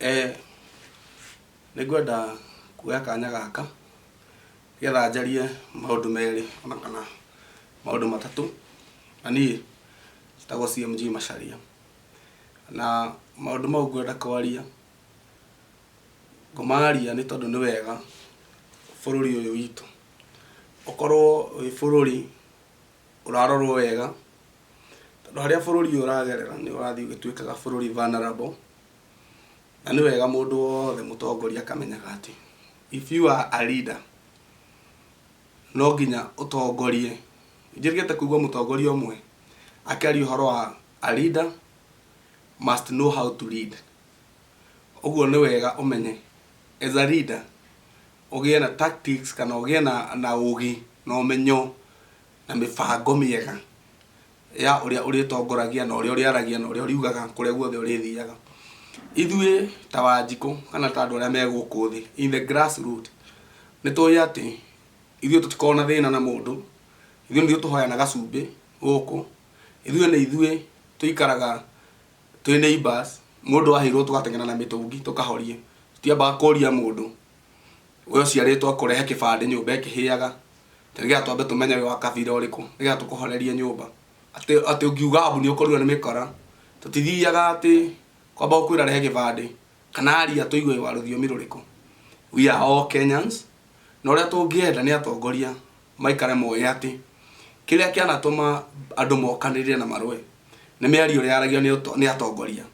Eh, nĩ ngwenda kuoya kanya gaka nĩgetha njarie maũndũ merĩ ona kana maũndũ matatũ. Na niĩ njĩtagwo CMG Macharia. Na maũndũ mau ngwenda kwaria, ngũmaria nĩ tondũ nĩ wega bũrũri ũyũ witũ ũkorwo wĩ bũrũri ũrarorwo wega, tondũ harĩa bũrũri ũyũ ũragerera nĩ ũrathiĩ ũgĩtuĩkaga bũrũri vulnerable. Na nĩ wega mũndũ wothe mũtongoria akamenyaga atĩ if you are a leader no nginya ũtongorie. Ndirigĩte kũigua mũtongoria ũmwe akĩaria ũhoro wa a leader must know how to lead. Ũguo nĩ wega ũmenye as a leader ũgĩe na tactics kana ũgĩe na ũgĩ na ũmenyo na mĩbango mĩega ya ũrĩa ũrĩtongoragia na ũrĩa ũrĩaragia na ũrĩa ũriugaga kũrĩa guothe ũrĩthiaga. Ithuĩ ta Wanjikũ kana ta andũ arĩa me gũkũ thĩ in the grass root nĩ tũĩ atĩ ithuĩ tũtikoragwo na thĩna na mũndũ, ithuĩ nĩ ithuĩ tũhoyana gacumbĩ gũkũ, ithuĩ nĩ ithuĩ tũikaraga twĩ neighbours, mũndũ aheirwo tũgateng'era na mĩtũngi tũkahoria, tũtiambaga kũria mũndũ. we ũciarĩtwo akũrehe kĩbandĩ nyũmba ĩkĩhĩaga atĩ nĩgetha twambe tũmenye wĩ wa kabira ũrĩkũ nĩgetha tũkũhorerie nyũmba atĩ atĩ ũngiuga mbu nĩũkorirwo nĩ mĩkora tũtithiaga atĩ kwamba gũkwĩra rehe gĩbandĩ kana aria tũigue wĩ wa rũthiomi rũrĩkũ we are all Kenyans na ũrĩa tũngĩenda nĩ atongoria maikare moĩ atĩ kĩrĩa kĩanatũma andũ mokanĩrĩre na marũe Nĩ mĩario ĩrĩa yaragio nĩ atongoria.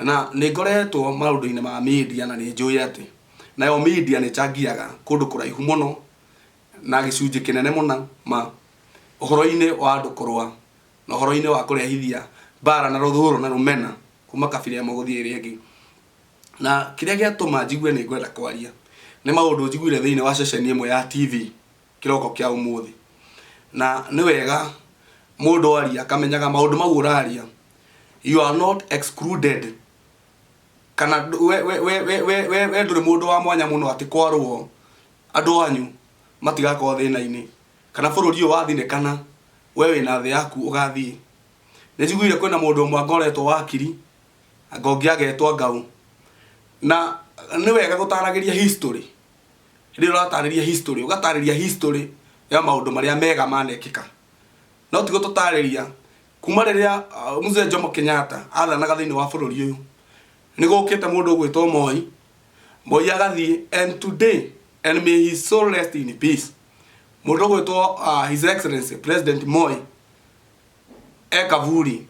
Na nĩ ngoretwo maũndũ-inĩ ma media na nĩ njũĩ atĩ nayo media nĩ ĩchangiaga kũndũ kũraihu mũno na gĩcunjĩ kĩnene mũno ma ũhoro-inĩ wa andũ kũrũa na ũhoro-inĩ wa kũrehithia mbara na rũthũũro na rũmena kuma kabira ĩmwe gũthiĩ ĩrĩa ĩngĩ. Na kĩrĩa gĩatũma njigue nĩ ngwenda kwaria nĩ maũndũ njiguire thĩinĩ wa ceceni ĩmwe ya TV. kĩroko kĩa ũmũthĩ na nĩ wega mũndũ aria akamenyaga maũndũ mau ũraria you are not excluded kana ndũ- we- we- we- we- we- we we ndũrĩ mũndũ wa mwanya mũno atĩ kwarwo andũ anyu matigakorwo thĩna-inĩ kana bũrũri ũyũ wathinĩkana we wĩna thĩ yaku ũgathiĩ nĩ njiguire kwĩna mũndũ ũmwe angoretwo wakiri anga ũngĩ agetwo ngau na nĩ wega gũtaragĩria history rĩrĩa ũratarĩria history ũgatarĩria history ya maũndũ marĩa mega manekĩka no tigo tũtarĩria kuma rĩrĩa uh, mzee Jomo Kenyatta athanaga thĩinĩ wa bũrũri ũyũ nĩ gũkĩte mũndũ ũgwĩtwo Moi Moi agathiĩ and today and may his soul rest in peace mũndũ ũgwĩtwo uh, his excellency president Moi e kaburi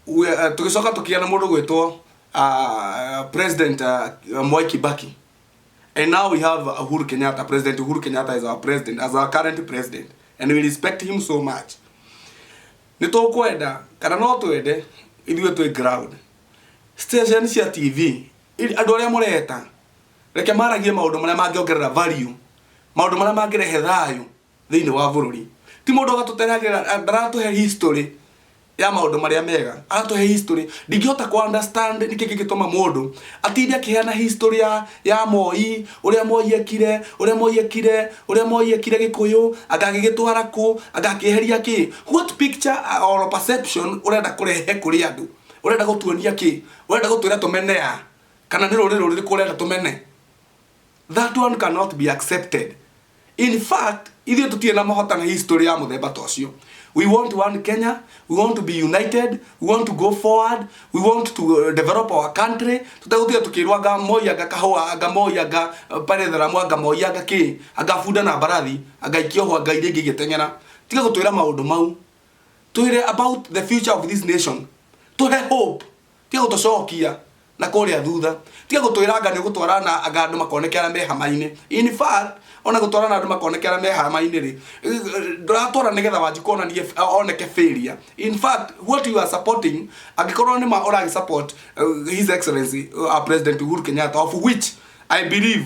We- eh, tũgĩcoka tũkĩgĩa na mũndũ gwĩtwo ah, president ah, mwai kibaki And now we have Uhuru Kenyatta, President Uhuru Kenyatta is our president, as our current president. And we respect him so much. Nĩ tũkwenda, kana no twende, ithuĩ twĩ ground. Station cia TV, iri- andũ arĩa mũreta, reke maragie maũndũ marĩa mangĩongerera value, maũndũ marĩa mangĩrehe thayũ, thĩinĩ wa bũrũri ti mũndũ agatũteragĩra ndaratũhe history ya maũndũ marĩa mega aratũhe history ndingĩhota kũ understand nĩkĩ kĩngĩtũma mũndũ atinde akĩheana history ya, ya moi ũrĩa moi ekire ũrĩa moi ekire ũrĩa moi ekire gĩkũyũ angagĩgĩtwara kũ angakĩeheria kĩ what picture or perception ũrenda kũrehe kũrĩ andũ ũrenda gũtuonia kĩ ũrenda gũtwĩra tũmene ya kana nĩ rũrĩrĩ rũrĩkũ ũrenda tũmene That one cannot be accepted. In fact, ithuĩ tũtirĩ na mahota na history ya mũthemba ta ũcio. We want one Kenya, we want to be united, we want to go forward, we want to uh, develop our country. Tũtegũtiga tũkĩrwo anga moi anga kahũa anga moi anga uh, pale tharamu anga moi anga kĩ anga bunda na mbarathi anga ikioho anga iria ingĩ igĩteng'era. Tiga gũtwĩra maũndũ mau. Twĩre about the future of this nation. Tũhe hope. Tiga gũtũcokia na kũrĩa thutha. Tiga gũtwĩra anga nĩ ũgũtwara na anga andũ makoneke arĩa me hama-inĩ. In fact, o na gũtwara na andũ makoneke arĩa me hama-inĩ-rĩ, ndũratwara nĩ getha Wanjikũ onanie oneke failure. In fact, what you are supporting, angĩkorwo nĩ ma ũragĩ support His Excellency our President Uhuru Kenyatta, of which I believe,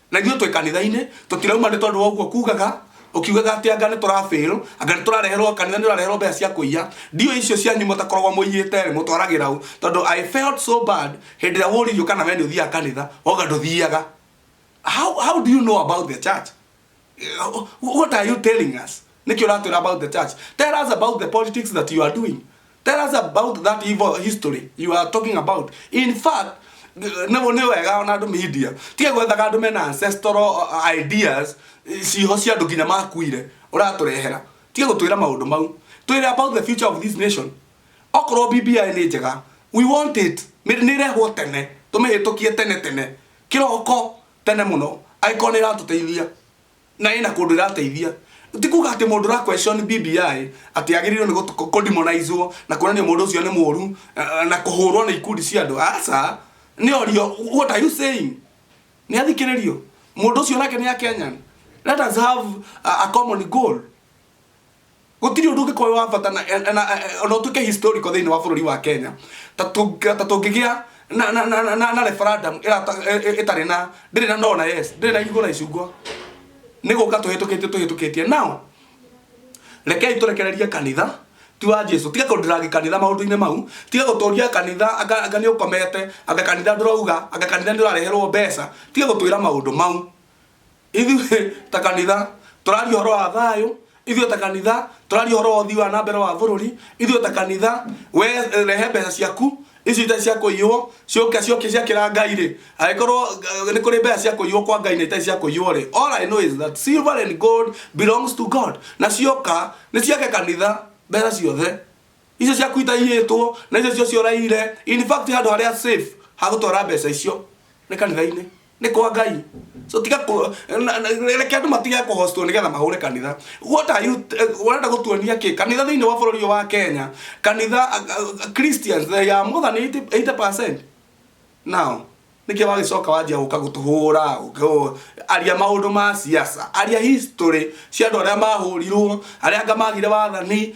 na ithuĩ twĩ kanitha-inĩ tũtirauma nĩ tondũ wa ũguo kugaga ũkiugaga atĩ anga nĩ tũrafail anga nĩ tũrareherwo kanitha nĩ ũrareherwo mbeca cia kũiya ndiũ icio cianyu mũtakoragwo mũiyĩte rĩ mũtwaragĩra ũ tondũ i felt so bad hĩndĩ ĩrĩa wũririo kana we nĩ ũthiaga kanitha wauga ndũthiaga how, how do you know about the church what are you telling us Nĩkĩ ũratwĩra about the church? Tell us about the politics that you are doing. Tell us about that evil history you are talking about. In fact, nĩguo nĩ wega ona andũ media tige gwethaga andũ mena ancestral uh, ideas eh, ciho cia andũ nginya makuire ũratũrehera tige gũtwĩra maũndũ mau twĩre about the future of this nation okorwo bbi nĩ njega we want it nĩ nĩ ĩrehwo tene tũmĩhĩtũkie tene tene kĩroko tene mũno angĩkorwo nĩ ĩratũteithia na ĩna kũndũ ĩrateithia ti kuga atĩ mũndũ ra question BBI atĩ agĩrĩirwo nĩ gũt- kũdemonizwo na kuonania mũndũ ũcio nĩ mũũru eh, na kũhũrwo nĩ ikundi cia andũ aca nĩ orio what are you saying nĩ athikĩrĩrio mũndũ ũcio nake nĩ a Kenyan let us have a, a common goal gũtirĩ ũndũ ũngĩkorwo wĩ wa bata na- eh, na- na- eh, ona ũtuĩke historical thĩinĩ wa bũrũri wa kenya ta tũngĩ- ta tũngĩgĩa na- na- na- na- na- na referendum ĩrata- eh, eh, ĩtarĩ na ndĩrĩ na no na yes ndĩrĩ na irigũ na icungwa nĩ gũka tũhĩtũkĩtie tũhĩtũkĩtie nao rekei tũrekererie kanitha ti wa jesu tiga kũndĩrangi kanitha maũndũ-inĩ mau tiga gũtũria kanitha anga anga nĩ ũkomete anga kanitha ndũrauga anga kanitha nĩ ũrareherwo mbeca tiga gũtwĩra maũndũ mau Ithuĩ ta kanitha tũraria ũhoro wa thayũ, ithuĩ ta kanitha tũraria ũhoro wa ũthii wa na mbere wa bũrũri, ithuĩ ta kanitha we rehe mbeca ciaku ici itarĩ cia kũiywo ciũke ciũke ciakĩra Ngai rĩ, angĩkorwo eh, nĩ kũrĩ mbeca cia kũiywo kwa Ngai na itarĩ cia kũiywo rĩ, all I know is that silver and gold belongs to God na cioka nĩ ciake kanitha mbeca ciothe icio ciaku itaiyĩtwo na icio cio cioraire in fact handũ harĩa safe hagũtwara mbeca icio nĩ kanitha-inĩ nä kwa ngai so tiga kå- na- na- reke andå matige kå hostwo nä getha mahå re kanitha What are you- eh, ũrenda gå tuonia kä kanitha thä inä wa bå rå ri wa kenya kanitha ah, ah, christians they are more than 80 80% nao nĩkĩ wagĩcoka wanjia gũka gũtũhũra ũkĩ- aria maũndũ ma siasa aria history cia andũ arĩa mahũrirwo arĩa anga magire wathani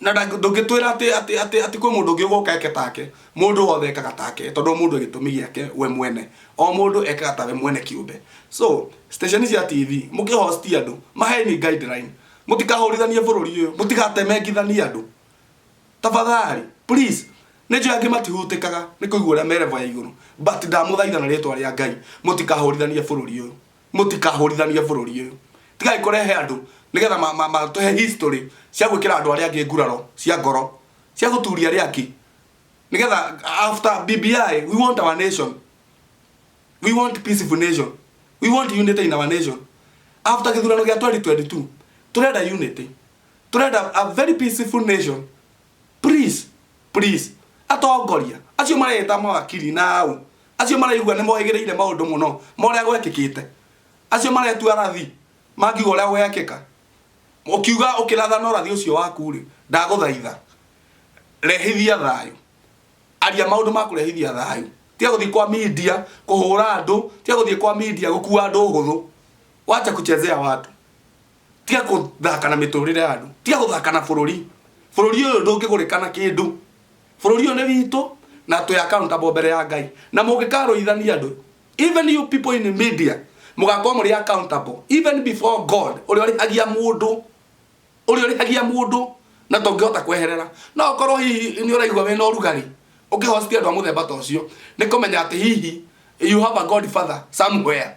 na ndũngĩtwĩra atĩ atĩ atĩ atĩ kwĩ mũndũ ũngĩ ũgoka eke take mũndũ wothe ekaga take tondũ o mũndũ gĩtũmi gĩake we mwene o mũndũ ekaga tawe mwene kĩũmbe so station cia tv mũkĩ host andũ maheni guideline mũtikahũrithanie bũrũri ũyũ mũtigatemengithanie andũ tafadhali please nä njå angä matihutĩkaga kaga nä kå igua å rä a merevo ya igå rå but ndamå thaitha na rä twa rä a ngai må tikahå rithanie bå rå ri å yå Mũtikahũrithanie bũrũri ũyũ. Tigai kũrehe andũ nĩgetha ma, ma, matũhe history cia gwĩkĩra andũ arĩa angĩ nguraro cia ngoro cia gũturia arĩa angĩ nĩgetha after BBI we want our nation we want peaceful nation we want unity in our nation after gĩthurano gĩa 2022 tũrenda unity tũrenda a very peaceful nation please please atongoria acio mareta mawakiri na au acio maraigua nĩ mohĩgĩrĩire maũndũ mũno morĩa gwekĩkĩte acio maretua rathi mangiuga ũrĩa gwekĩka ũkiuga ũkĩratha no rathi ũcio waku rĩ ndagũthaitha rehithia thayũ aria maũndũ ma kũrehithia thayũ tiga gũthiĩ kwa media kũhũra andũ tiga gũthiĩ kwa media gũkua andũ ũhũthũ wacha kuchezea watu tiga guthaka na miturire ya andu tiga guthaka na bururi bururi uyu ndungigurika na kindu bururi uyu ni witu na twi accountable mbere ya ngai na mungikaruithania andu even you people in media mugakorwo muri accountable even before god uria urihagia mundu uria urihagia mundu na ndũngĩhota kweherera no korwo hihi nĩ ũraigua wĩna ũrugarĩ ũkĩhosti andũ a mũthemba ta ũcio nĩ kũmenya atĩ hihi you have a god father somewhere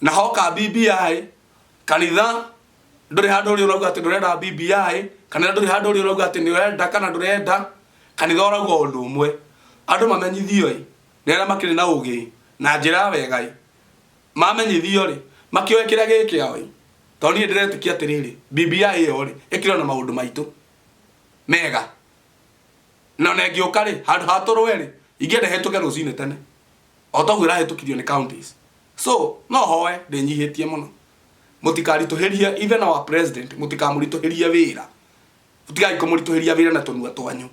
naho ka bbi kanitha ndũrĩ handũ ũrĩ ũrauga atĩ ndũrenda bbi kanitha ndũrĩ handũ ũrĩ ũrauga atĩ nĩwenda kana ndũrenda kanitha ũrauga ũndũ ũmwe andũ mamenyithio ĩ nĩ arĩa makĩrĩ na ũgĩ ĩ na njĩra ya wega ĩ mamenyithio rĩ makĩoe kĩrĩa gĩ kĩao ĩ to niĩ ndĩretĩkia atĩrĩrĩ bbi ĩyo rĩ ĩkĩrĩ na maũndũ maitũ mega na ona ĩngĩũka rĩ handũ ha tũrũe rĩ ingĩenda ĩhĩtũke rũcinĩ tene o toguo ĩrahĩtũkirio nĩ counties so no hoe ndĩnyihĩtie mũno mũtikaritũhĩrie even our president mũtikamũritũhĩrie wĩra mũtigai kũmũritũhĩria wĩra na tũnua twanyu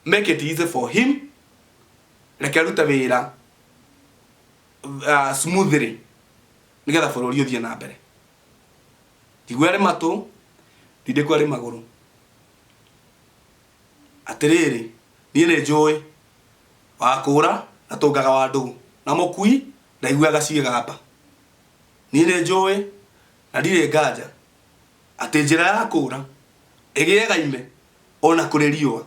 make it easy for him reke rute wĩra uh, smoothly nigetha bũrũri ũthiĩ na mbere ndigwe arĩ matũ ndindĩkwo arĩ magũrũ Atĩrĩrĩ, niĩ nĩnjũũĩ, wa kũũra ndatũngaga wa ndũgũ, na mũkui ndaiguaga ciĩgamba. Niĩ nĩnjũũĩ, na ndirĩ nganja, atĩ njĩra ya kũũra ĩgĩaga ime o na kũrĩ riũa.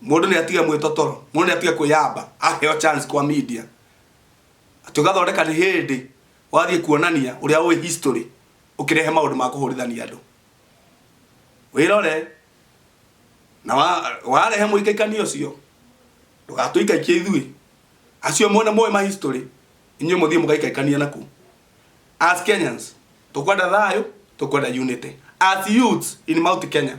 Mũndũ nĩatige mwĩtotoro, mũndũ nĩatige kwĩyamba aheo chance kwa media. Atĩ ũgathondeka nĩ hĩndĩ wathiĩ kuonania ũrĩa ũĩ history ũkĩrehe maũndũ ma kũhũrithania andũ wĩrore na wa- warehe mũikaikania ũcio ndũgatũikaikie ithuĩ acio mone moĩ ma history inyuĩ mũthiĩ mũgaikaikania naku as kenyans tũkwenda thayũ tũkwenda unity as youths in mount kenya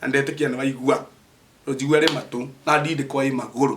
na ndetĩkia nĩwaigua rũnjigua rĩ matũ na ndindĩko ĩ magũrũ